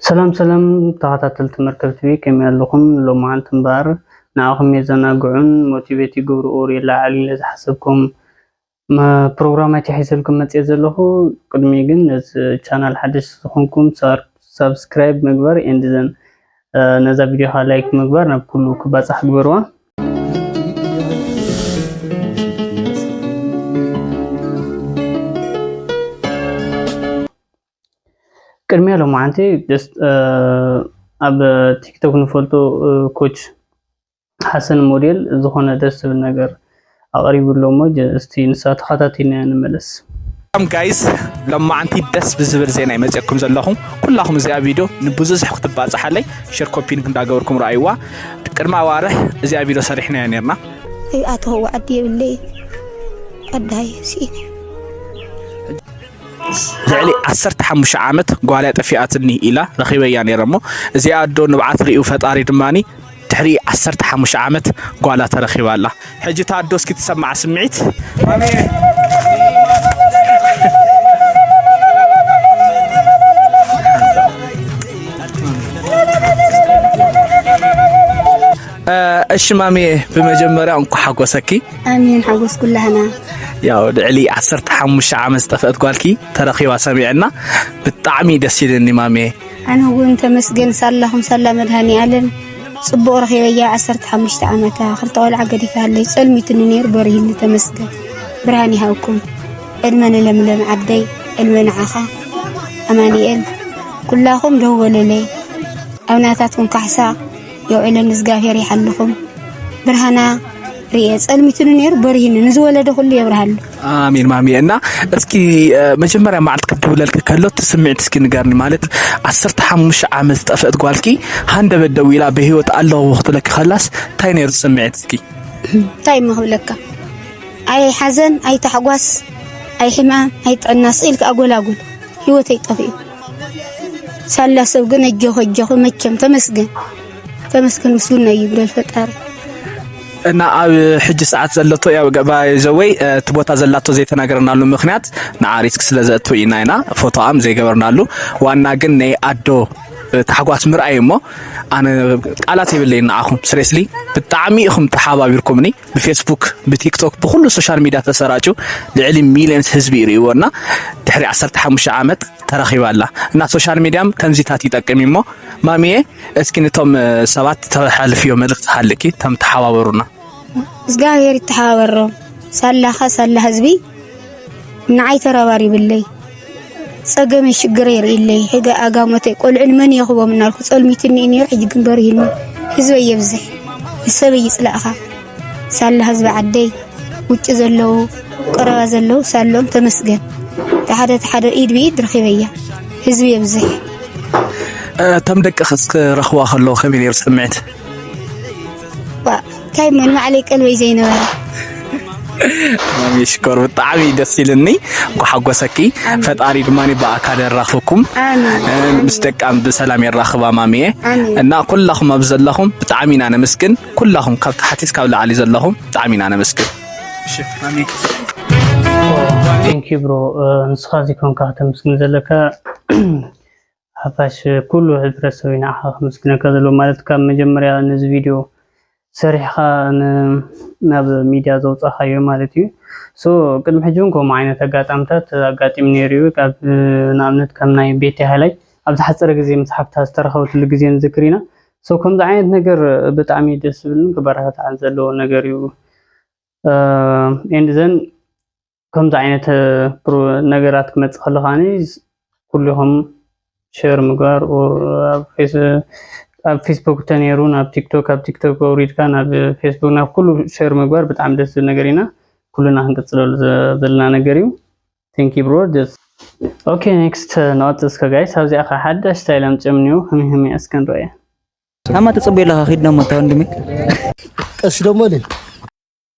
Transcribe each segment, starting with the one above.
ሰላም ሰላም ተኸታተልቲ መርከብ ቲቪ ከመይ ኣለኹም? ሎማዓንቲ እምበኣር ንዓኹም የዘናግዑን ሞቲቬት ይገብሩ ኦር የለዓዕሉ ኢለ ዝሓሰብኩም ፕሮግራም ኣይተሒዘልኩም መፅየ ዘለኹ። ቅድሚ ግን ነዚ ቻናል ሓደሽ ዝኾንኩም ሳብስክራይብ ምግባር ኤንድ ዘን ነዛ ቪዲዮ ከዓ ላይክ ምግባር ናብ ኩሉ ክባፃሕ ግበርዋ። ቅድሚ ሎማዓንቲ ኣብ ቲክቶክ ንፈልጦ ኮች ሓሰን ሞዴል ዝኾነ ደስ ዝብል ነገር ኣቕሪቡ ኣሎ እሞ እስቲ ንሳ ተኸታቲልና ንመለስ። ሰላም ጋይስ ሎማዓንቲ ደስ ብዝብል ዜና ይመፅኩም ዘለኹ ኩላኹም እዚኣ ቪድዮ ንብዙሕ ክትባፅሓለይ ሸር ኮፒንግ እንዳገበርኩም ረኣይዋ ቅድሚ ኣዋርሕ እዚኣ ቪድዮ ሰሪሕናያ ነርና ኣቶ ዓዲ የብለይ ኣዳይ ስኢነ ልዕሊ ዓሰርተ ሓሙሽተ ዓመት ጓልያ ጠፊኣትኒ ኢላ ረኺበያ ነይረ እሞ እዚኣ ኣዶ ንብዓት ርእዩ ፈጣሪ ድማኒ ድሕሪ ዓሰርተ ሓሙሽተ ዓመት ጓላ ተረኺባ ኣላ። ሕጂ እታ ኣዶ እስኪ ትሰምዓ ስምዒት እሺ ማሚየ ብመጀመርያ እንኳ ሓጎሰኪ ኣሜን ሓጎስ ኩላህና ያው ልዕሊ ዓሰርተ ሓሙሽተ ዓመት ዝጠፍአት ጓልኪ ተረኺባ ሰሚዐና ብጣዕሚ ደስ ኢልኒ ማሜ ኣነ እውን ተመስገን ሳላኹም ሳላ መድሃኒ ኣለም ጽቡቕ ረኺበያ ዓሰርተ ሓሙሽተ ዓመታ ክልተ ቆልዓ ገዲፋለይ ጸልሚትኒ ነይሩ በሪህኒ ተመስገን ብርሃን ይሃብኩም ዕድመ ንለምለም ዓደይ ዕድመ ንዓኻ ኣማኒኤል ኩላኹም ደወለለይ ኣብናታትኩም ካሕሳ የውዕለን እዝጋብሔር ይሓልኹም ብርሃና ርኤ ጸልሚቱን ነይሩ በርሂን ንዝወለደ ኩሉ የብርሃሉ ኣሜን ማሚ እና እስኪ መጀመርያ መዓልቲ ክትድውለልኪ ከሎ ትስምዒት እስኪ ንገርኒ ማለት ዓሰርተ ሓሙሽተ ዓመት ዝጠፍአት ጓልኪ ሃንደበት ደው ኢላ ብሂወት ኣለዎ ክትብለኪ ከላስ እንታይ ነይሩ ስምዒት እስኪ እንታይ እሞ ክብለካ ኣይ ሓዘን ኣይ ታሕጓስ ኣይ ሕማም ኣይ ጥዕና ስኢልካ ኣጎላጉል ሂወተይ ጠፊኡ ሳላ ሰብ ግን እጆኹ እጆኹ መቸም ተመስገን ተመስገን ምስጉን ናይ ይብለል ፈጣሪ እና ኣብ ሕጂ ሰዓት ዘለቶ ያው ባይ ዘወይ እቲ ቦታ ዘላቶ ዘይተናገርናሉ ምክንያት ንዓሪስክ ስለ ዘእቱ ኢና ኢና ፎቶኣም ዘይገበርናሉ ዋና ግን ናይ ኣዶ ታሕጓስ ምርኣይ እሞ ኣነ ቃላት የብለይ ንዓኹም ስሬስሊ ብጣዕሚ ኢኹም ተሓባቢርኩምኒ ብፌስቡክ ብቲክቶክ ብኩሉ ሶሻል ሚድያ ተሰራጩ ልዕሊ ሚልዮንስ ህዝቢ ይርእይዎ እና ድሕሪ 15 ዓመት ተረኺባ ኣላ እና ሶሻል ሚድያም ከምዚታት ይጠቅም እሞ ማሚየ እስኪ ንቶም ሰባት ተሓልፍዮ መልእክቲ ሃልኪ ተም ተሓባበሩና እግዚኣብሔር ይተሓባበሮም ሳላኸ ሳላ ህዝቢ ንዓይ ተረባሪብለይ ጸገመይ ሽግረይ የርእይለይ ሕገ ኣጋሞተይ ቆልዑ ንመን የኽቦም እናልኩ ጸልሚትኒ እኒዮ ሕጂ ግን በሪህኒ ህዝበይ የብዝሕ ንሰበይ ይጽላእኻ ሳላ ህዝቢ ዓደይ ውጭ ዘለዉ ቀረባ ዘለዉ ሳሎም ተመስገን ተሓደ ተሓደ ኢድ ብኢድ ረኺበያ ህዝቢ የብዝሕ እቶም ደቅኽስ ክረኽቡዋ ከለዉ ከመይ ነይሩ ስምዒት? እንታይ መን ባዕለይ ቀልበይ ዘይነበረ ሽኮር ብጣዕሚ ደስ ኢልኒ ጓሓጎሰኪ ፈጣሪ ድማ ብኣካል የራኽብኩም ምስ ደቃም ብሰላም የራኽባ ማሚየ እና ኩላኹም ኣብ ዘለኹም ብጣዕሚ ኢና ነመስግን ኩላኹም ካብ ታሕቲ እስካብ ላዕሊ ዘለኹም ብጣዕሚ ኢና ነመስግን ቴንኪ ብሮ ንስኻ እዚ ኮንካ ከተመስግን ዘለካ ሓፋሽ ኩሉ ሕብረተሰበይ ንዓኻ ከመስግነካ ዘለዎ ማለት ካብ መጀመርያ ነዚ ቪድዮ ሰሪሕኻ ናብ ሚድያ ዘውፃኻዮ ማለት እዩ ሶ ቅድሚ ሕጂ እውን ከምኡ ዓይነት ኣጋጣምታት ኣጋጢሙ ነይሩ እዩ ካብ ንኣብነት ከም ናይ ቤቲ ሃይላይ ኣብ ዝሓፀረ ግዜ ምስ ሓፍታ ዝተረኸበትሉ ግዜ ንዝክር ኢና ሶ ከምዚ ዓይነት ነገር ብጣዕሚ ደስ ዝብልን ክበረታታዕን ዘለዎ ነገር እዩ ኤንድ ዘን ከምዚ ዓይነት ነገራት ክመፅእ ከሎ ከዓኒ ኩልኹም ሸር ምግባር ኣብ ፌስቡክ ተነይሩ ናብ ቲክቶክ ኣብ ቲክቶክ ኣውሪድካ ናብ ፌስቡክ ናብ ኩሉ ሸር ምግባር ብጣዕሚ ደስ ዝብል ነገር ኢና ኩልና ክንቅፅለሉ ዘለና ነገር እዩ ቴንኪ ብሮ ደስ ኦኬ ኔክስት ንቐፅል እስከ ጋይስ ኣብዚኣ ከዓ ሓዳሽ ስታይል ኣምፅኦም እኒኦ ህሚ ህሚ እስከ ንረእያ ኣማ ተፀበዩ ኣለካ ኪድ ደሞ እታ ወንድሚ ቀስ ደሞ ልል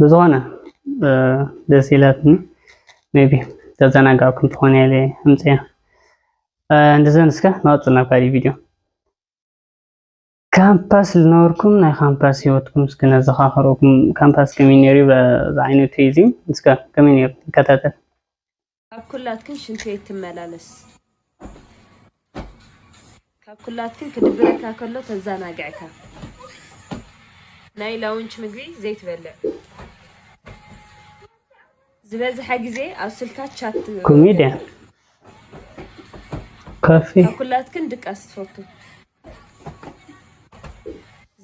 ብዝኾነ ደስ ኢላትኒ ሜቢ ተዘናጋዕኩም ትኾኑ ኢለ ኣምፅያ እንደዘን እስከ ንቐፅል ናብ ካሊእ ቪድዮ ካምፓስ ዝነበርኩም ናይ ካምፓስ ሂወትኩም እስከ ነዘኻኽረኩም ካምፓስ ከመይ ነይሩ ዝዓይነቱ እዩ እዚ እስከ ከመይ ነይሩ ይከታተል ካብ ኩላትክን ሽንት ቤት ትመላለስ ካብ ኩላትክን ክድብረካ ከሎ ተዛናግዕካ ናይ ላውንች ምግቢ ዘይትበልዕ ዝበዝሐ ግዜ ኣብ ስልካ ቻት ትገብር ኮሜድያ ካብ ኩላትክን ድቃስ ትፈቱ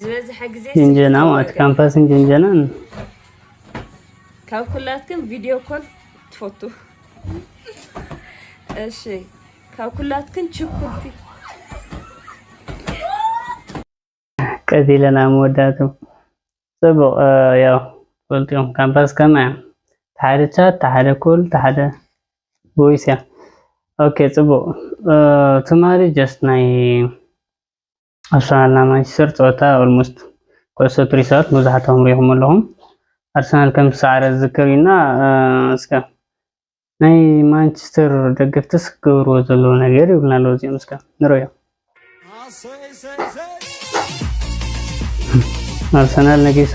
ዝበዝሐ ግዜ ጅንጀና ማለት ካምፓስን ጅንጀናን ካብ ኩላትኩም ቪድዮ ኮል ትፈቱ። እሺ ካብ ኩላትኩም ችኩልቲ ቀስ ኢለን ኣብ መወዳእትኡ ጽቡቕ ያው ፈልጥዮም ካምፓስ ከመይ እያ ተሓደ ቻት ተሓደ ኩል ተሓደ ቦይስ እያ ኦኬ ጽቡቕ ትማሊ ጀስት ናይ ኣርሰናልና ማንቸስተር ፀወታ ኦልሞስት ኩዕሶ ትሪሳት መብዛሕትኹም ሪኢኹም ኣለኹም ኣርሰናል ከም ዝሰዓረ ዝዝከር እዩና እስከ ናይ ማንቸስተር ደገፍትስ ክገብርዎ ዘለዎ ነገር ይብሉና ኣለዉ እዚኦም እስከ ንረዮ ኣርሰናል ነጊሱ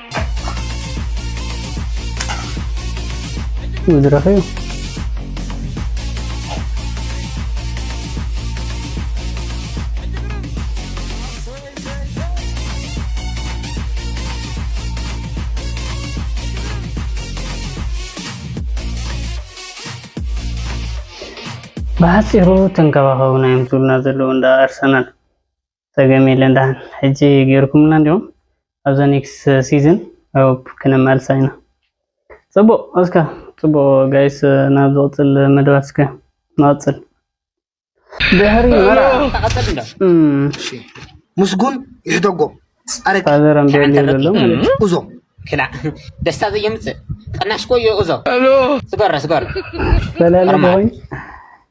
መድረኽ እዩ ብሓፂሩ ተንከባኸቡና እዮም ዝብሉና ዘለዉ እንዳ ኣርሰናል ጸገም የለን ደሓን ሕጂ ጌርኩምልና እንዲኹም ኣብዛ ኔክስት ሲዝን ኣይ ሆፕ ክነማልሳ ኢና። ጽቡቅ እስከ ጽቡቅ ጋይስ ናብ ዝቅጽል መደባት እስከ ንቀጽል። ድሕሪ መርዓ ምስጉን ይሕደጎ ጻረግ ፋዘር ኣምቤሊ ዘሎ እዞ ክላ ደስታ ዘየምጽእ ቅናሽ ኮዮ እዞ ስገረ ስገረ ፈላሊ ኮይን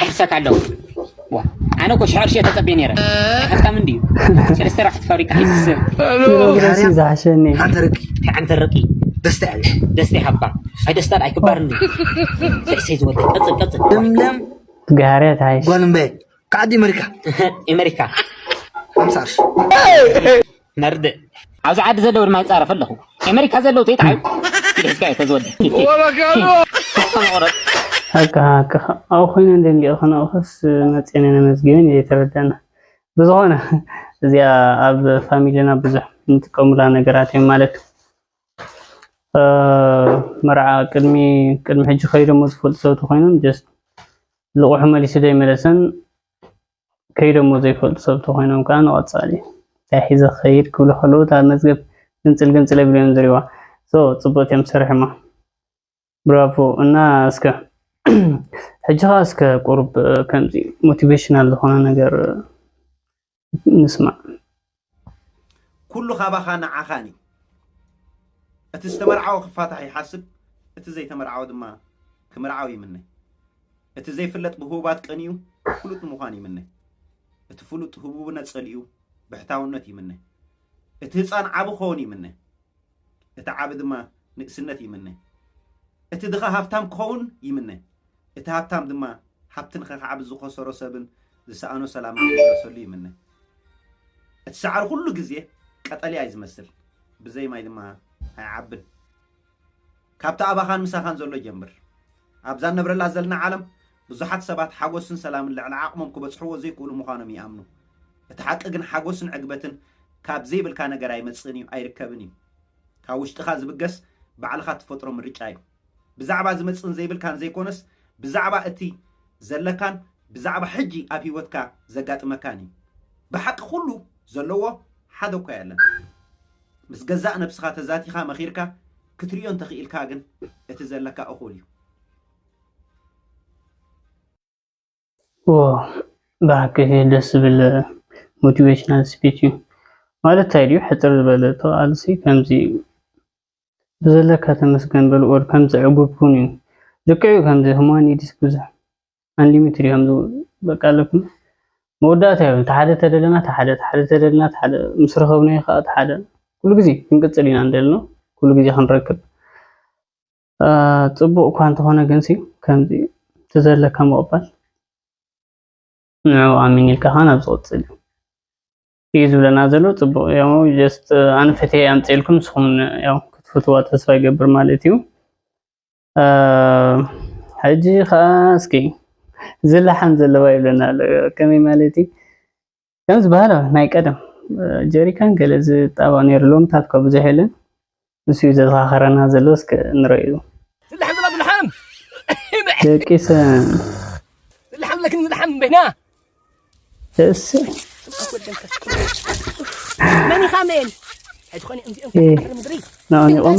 ክምሰካ ኣለዎ ኣነ እኮ ሽሕ ቅርሺ ተፀቤ ነይረ ሃብታም እንድዩ ሰለስተ ራሕቲ ፋብሪካ ሒዝሰ ዝሓሸኒ ሓንቲ ርቂ ሓንቲ ርቂ ደስታ እያ ደስታ ይሃባ ኣይ ደስታ ኣይክባርን ልዕሰይ ዝወደ ቀፅል ቀፅል እምለም ጋርያት ሃይሽ ጓል እምበይ ከዓዲ ኢመሪካ ኢመሪካ ሓምሳ ቅርሺ ነርድእ ኣብዚ ዓዲ ዘለዉ ድማ ይፃረፍ ኣለኹ ኣሜሪካ ዘለዉ ተይትዓዩ ሒዝካዮ ተዝወደ ኣብኡ ኮይኑ ደንጊቑ ከነኡኸስ መፅነ ነመዝጊብን እየ ተረዳና ብዝኾነ እዚኣ ኣብ ፋሚሊና ብዙሕ ንጥቀሙላ ነገራት እዮም ማለት መርዓ ቅድሚ ቅድሚ ሕጂ ከይዶሞ ዝፈልጡ ሰብ ተኮይኖም ጀስት ልቑሑ መሊሱ ዘይመለሰን ከይዶሞ ዘይፈልጡ ሰብ ተኮይኖም ከዓ ንቐፃሊ እንታይ ሒዘ ክኸይድ ክብሉ ከለዉ እታ መዝገብ ግንፅል ግንፅል የብሉ እዮም ዝሪእዋ ሶ ፅብቕቲ እዮም ሰሪሖማ ብራቮ እና እስከ ሕጂ ከዓ እስከ ቁሩብ ከምዚ ሞቲቬሽናል ዝኮነ ነገር ንስማዕ ኩሉ ካባኻ ንዓኻን እዩ እቲ ዝተመርዓወ ክፋታሕ ይሓስብ እቲ ዘይተመርዓወ ድማ ክምርዓው ይምነ እቲ ዘይፍለጥ ብህቡባት ቀንዩ ፍሉጥ ንምዃን ይምነ እቲ ፍሉጥ ህቡብነት ጸሊኡ ብሕታውነት ይምነ እቲ ህፃን ዓቢ ክኸውን ይምነ እቲ ዓቢ ድማ ንእስነት ይምነ። እቲ ድኻ ሃብታም ክኸውን ይምነ። እቲ ሃብታም ድማ ሃብቲ ንኸካዕብት ዝኸሰሮ ሰብን ዝሰኣኖ ሰላምን ክምለሰሉ ይምነ። እቲ ሳዕሪ ኩሉ ግዜ ቀጠልያ እዩ ዝመስል፣ ብዘይ ማይ ድማ ኣይዓብን። ካብቲ ኣባኻን ምሳኻን ዘሎ ጀምር። ኣብዛ እንነብረላ ዘልና ዓለም ብዙሓት ሰባት ሓጎስን ሰላምን ልዕሊ ዓቕሞም ክበጽሕዎ ዘይክእሉ ምዃኖም ይኣምኑ። እቲ ሓቂ ግን ሓጎስን ዕግበትን ካብ ዘይብልካ ነገር ኣይመጽእን እዩ፣ ኣይርከብን እዩ። ካብ ውሽጥኻ ዝብገስ ባዕልኻ እትፈጥሮ ምርጫ እዩ። ብዛዕባ ዝመጽእን ዘይብልካን ዘይኮነስ ብዛዕባ እቲ ዘለካን ብዛዕባ ሕጂ ኣብ ህይወትካ ዘጋጥመካን እዩ። ብሓቂ ኩሉ ዘለዎ ሓደ እኳ የለን። ምስ ገዛእ ነብስኻ ተዛቲኻ መኺርካ ክትሪኦ እንተኽኢልካ ግን እቲ ዘለካ እኹል እዩ። ብሓቂ ደስ ዝብል ሞቲቬሽናል ስፒች እዩ ማለት እንታይ ድዩ ሕፅር ዝበለ ተቃልሲ ከምዚ ብዘለካ ተመስገን በል ኦር ከምዚ ዕጉብ ኩን እዩ ልክዕ እዩ ከምዚ ህማኒዲስ ብዙሕ ኣንሊሚትድ እዮም ዝብሉ በቃ ኣለኩም መወዳእታ እዮም እቲ ሓደ ተደለና እቲ ሓደ እቲ ሓደ ተደለና እቲ ሓደ ምስ ረኸብናዮ ከዓ እቲ ሓደ ኩሉ ግዜ ክንቅፅል ኢና እንደሊ ነው ኩሉ ግዜ ክንረክብ ፅቡቅ እኳ እንተኾነ ግን ሲ ከምዚ እቲ ዘለካ ምቕባል ንዕኡ ኣሚን ኢልካ ከዓ ናብ ዝቕፅል እዩ እዩ ዝብለና ዘሎ ፅቡቅ ያው ጀስት ኣነ ፈትየ ኣምፅኤልኩም ንስኹም ያው ክትፍትዋ ተስፋ ይገብር ማለት እዩ ሕጂ ከዓ እስኪ ዝለሓም ዘለዋ ይብለና ኣሎ ከመይ ማለት እዩ ከም ዝበሃሎ ናይ ቀደም ጀሪካን ገለ ዝጣበቕ ነይሩ ሎምታት እኳ ብዙሕ የለን ንሱ እዩ ዘዘኻኸረና ዘሎ እስከ ንረዩ ዝለሓም ዘላ ዝለሓም ደቂ ሰብ ዝለሓም ለክን ዝለሓም በይና እስ መን ኢኻ መን ሕጂ ኾነ እምዚኦም ምድሪ ናኦም ይቖሙ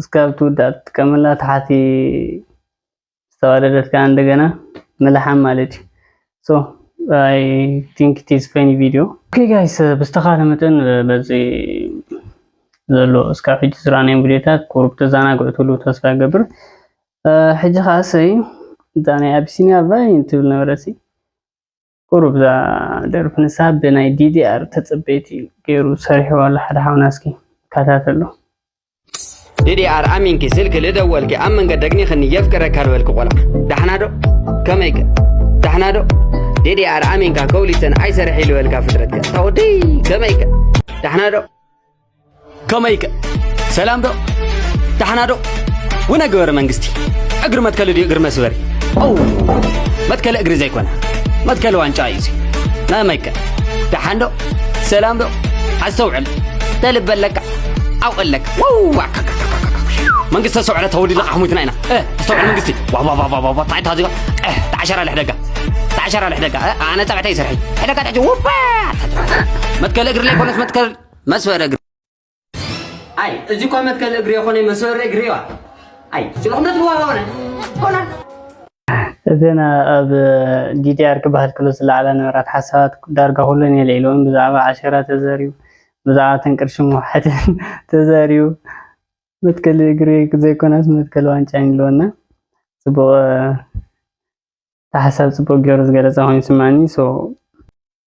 እስካብ ትውዳእ ትጥቀመላ ታሕቲ ዝተዋደደት ከዓ እንደገና ምልሓም ማለት እዩ ሶ ኣይ ቲንክ ኢት ኢዝ ፈኒ ቪድዮ ኦኬ ጋይስ ብዝተኻለ መጠን በዚ ዘሎ እስካብ ሕጂ ዝረኣናዮም ቪድዮታት ቁሩብ ተዘናግዑ ትብሉ ተስፋ ይገብር ሕጂ ከዓ ሰይ እዛ ናይ ኣቢሲኒያ ቫይን ትብል ነበረሲ ቁሩብ እዛ ደርፊ ንሳ ብናይ ዲዲኣር ተጸበይቲ ገይሩ ሰሪሕዋ ኣሎ ሓደ ሓውና እስኪ ከታተሎ ዲዲኣር ኣሚንኪ ስልኪ ልደወልኪ ኣብ መንገድ ደግኒኽኒ የፍቅረካ ልበልኪ ቆልዓ ዳሕናዶ ከመይከ ዳሕናዶ ዲዲኣር ኣሚንካ ከውሊሰን ኣይሰርሒ ልበልካ ፍጥረትከ ታወዲ ከመይከ ዳሕናዶ ከመይከ ሰላም ዶ ዳሕና ዶ ውነ ገበረ መንግስቲ እግሪ መትከሊ ድዩ እግሪ መስበሪ ኦው መትከሊ እግሪ ዘይኮነ መትከሊ ዋንጫ እዩ እዚ መመይከ ዳሓን ዶ ሰላም ዶ ኣስተውዕል ተልበ ኣለካ ዓው ኣለካ ወዋ መንግስተ ሰውዕለ ተወዲላ ኣሕሙትና ኢና ኣስተውዕል መንግስቲ ዋዋዋዋዋ ታይ ታዚ ተዓሸራ ልሕደጋ ተዓሸራ ልሕደጋ ኣነ ፀብዕተይ ይሰርሐይ ሕደጋ ተዕጂ ውባ መትከሊ እግሪ ዘይኮነስ መትከል መስወር እግሪ ኣይ እዚ እኳ መትከል እግሪ የኾነ መስወር እግሪ ዋ ኣይ ስለኹነት ብዋ ሆነ ሆነ እዘን ኣብ ዲዲኣር ክበሃል ክሎ ዝለዓላ ነበራት ሓሳባት ዳርጋ ኩለን የልዒልዎን ብዛዕባ ዓሸራ ተዘርዩ ብዛዕባ ተንቅርሺ ምውሓትን ተዘርዩ መትከል እግሪ ዘይኮነስ መትከል ዋንጫ ይብልወና ጽቡቕ ተሓሳብ ጽቡቕ ገይሩ ዝገለጸ ኮይኑ ይስማዕኒ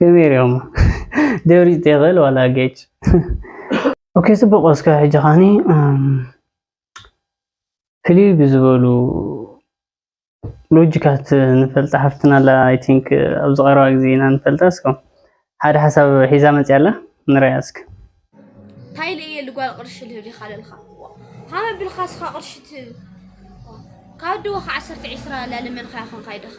ከመይ ሪኦም ደብሪፅ ተይክእል ዋላ ጌች ኦኬ ፅቡቅ እስከ ሕጂ ካኒ ፍልይ ብዝበሉ ሎጂካት ንፈልጣ ሓፍትና ኣላ ኣይ ቲንክ ኣብዚ ቀረባ ግዜ ኢና ንፈልጣ እስከ ሓደ ሓሳብ ሒዛ መፅያ ኣላ ንረያ እስከ እንታይ ኢለ እየ ልጓል ቅርሺ ልህብ ዲኻ ለልካ ሃመ ብልካ ስኻ ቅርሺ ትህብ ካብ ድወ ከዓ ዓሰርተ ዒስራ ላለመንካ ይኾንካ ይድኻ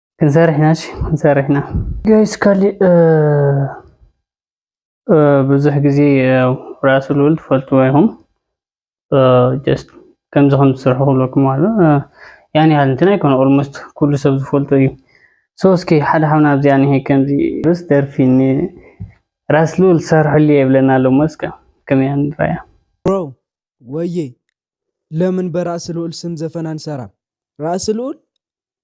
ክንሰርሕ ኢና እሺ ክንሰርሕ ኢና ጋይስ ካሊእ ብዙሕ ግዜ ራሱ ልውል ትፈልጥዎ ኢኹም ጀስት ከምዚ ከም ዝስርሑ ክብለኩም ኣሎ ያን ያህል እንትን ኣይኮነ ኦልሞስት ኩሉ ሰብ ዝፈልጦ እዩ ሶ እስኪ ሓደ ሓውና ኣብዚኣ ኒሄ ከምዚ ስ ደርፊ ራስ ልውል ሰርሑሉ የብለና ኣሎ መስከ ከመይ ንራያ ብሮ ወዬ ለምን በራእሲ ልኡል ስም ዘፈን ኣንሰራም ራእሲ ልኡል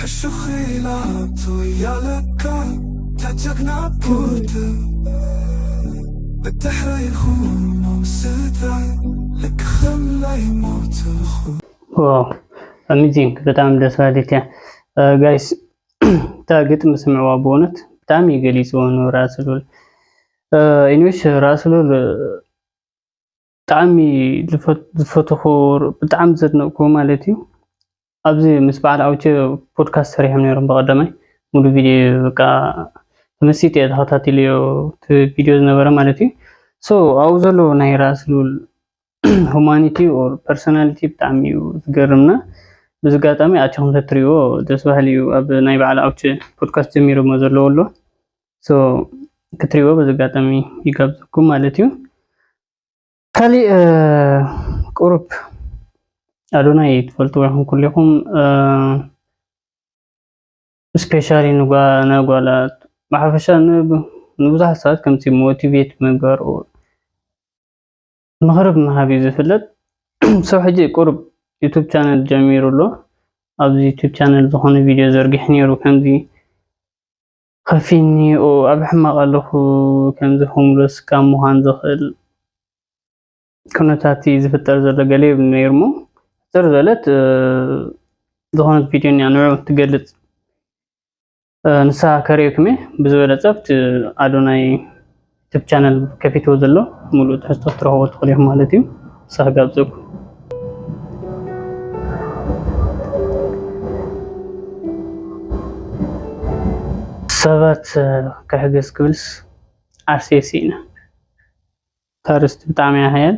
ሕሹኽ ኢላ ኣቱ እያ ለካ እታ ጀግና ፖርተ ብድሕረይ ኹኖም ስድራይ ልክ ኸምለይ ሞትኹ። ዋው ኣሚዚንግ ብጣዕሚ ደስ በሃሊት እያ ጋይስ እታ ግጥሚ ስምዕዋ ብእውነት ብጣዕሚ እዩ ገሊፅዎ ንራእሲ ሉል ኢንሽ ራእሲ ሉል ብጣዕሚ ዝፈተኹ ብጣዕሚ ዘድነቕኩ ማለት እዩ ኣብዚ ምስ በዓል ኣውቸ ፖድካስት ሰሪሖም ነይሮም ብቐዳማይ ሙሉ ቪድዮ በቃ ተመሲጥ እየ ተኸታቲለዮ እቲ ቪድዮ ዝነበረ ማለት እዩ ሶ ኣብኡ ዘሎ ናይ ራእሲ ልብል ሁማኒቲ ኦር ፐርሶናሊቲ ብጣዕሚ እዩ ዝገርምና በዚ ኣጋጣሚ ኣቸኹም ተትሪእዎ ደስ በሃሊ እዩ ኣብ ናይ በዓል ኣውቸ ፖድካስት ጀሚሮሞ ዘለዎ ኣሎ ሶ ክትሪዎ በዚ ኣጋጣሚ ይጋብዘኩም ማለት እዩ ካሊእ ቁሩብ ኣዶናይ ትፈልጥዎ ይኹን ኩሌኹም ስፔሻሊ ንጓላት ብሓፈሻ ንብዙሓት ሰባት ከምቲ ሞቲቬት ምግባር ምኽሪ ብምሃብ እዩ ዝፍለጥ ሰው ሕጂ ቁሩብ ዩቱብ ቻነል ጀሚሩ ኣሎ ኣብዚ ዩቱብ ቻነል ዝኾነ ቪድዮ ዘርጊሕ ነይሩ ከምዚ ከፊንኒ'ዩ ኣብ ሕማቕ ኣለኹ ከምዚ ሆምለስ ካብ ምዃን ዘኽእል ኩነታት እዩ ዝፍጠር ዘሎ ገለ ይብል ነይሩሞ ሕፅር ዝበለት ዝኾነት ቪድዮ እኒኣ ንዕኡ ትገልፅ ንሳ ከርእየኩም እየ ብዝበለፀ ኣብቲ ኣዶናይ ዩቱብ ቻነል ከፊትዎ ዘሎ ሙሉእ ትሕዝቶ ክትረኽቡ ትኽእሉ ኢኹም ማለት እዩ። ሳህ ጋብዘኩም ሰባት ክሕገዝ ክብልስ ዓርሴ ሲኢነ ታርስቲ ብጣዕሚ ያሃያል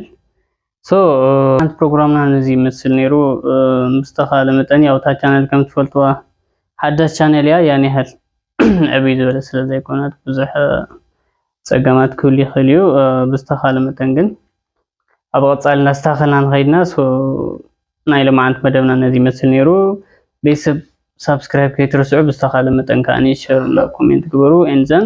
ሶ ሓንቲ ፕሮግራምና ነዚ ይመስል ነይሩ ምስተኻለ መጠን ያው እታ ቻነል ከም ትፈልጥዋ ሓዳስ ቻነል እያ ያን ያህል ዕብይ ዝበለ ስለ ዘይኮነት ብዙሕ ፀገማት ክህሉ ይኽእል እዩ ብዝተኻለ መጠን ግን ኣብ ቐፃሊ እናስተኻኸልና ንኸይድና ናይ ልምዓንት መደብና ነዚ ይመስል ነይሩ ቤተሰብ ሳብስክራይብ ከይትርስዑ ብዝተኻለ መጠን ከዓ ሸር ኮሜንት ግበሩ ኤንዘን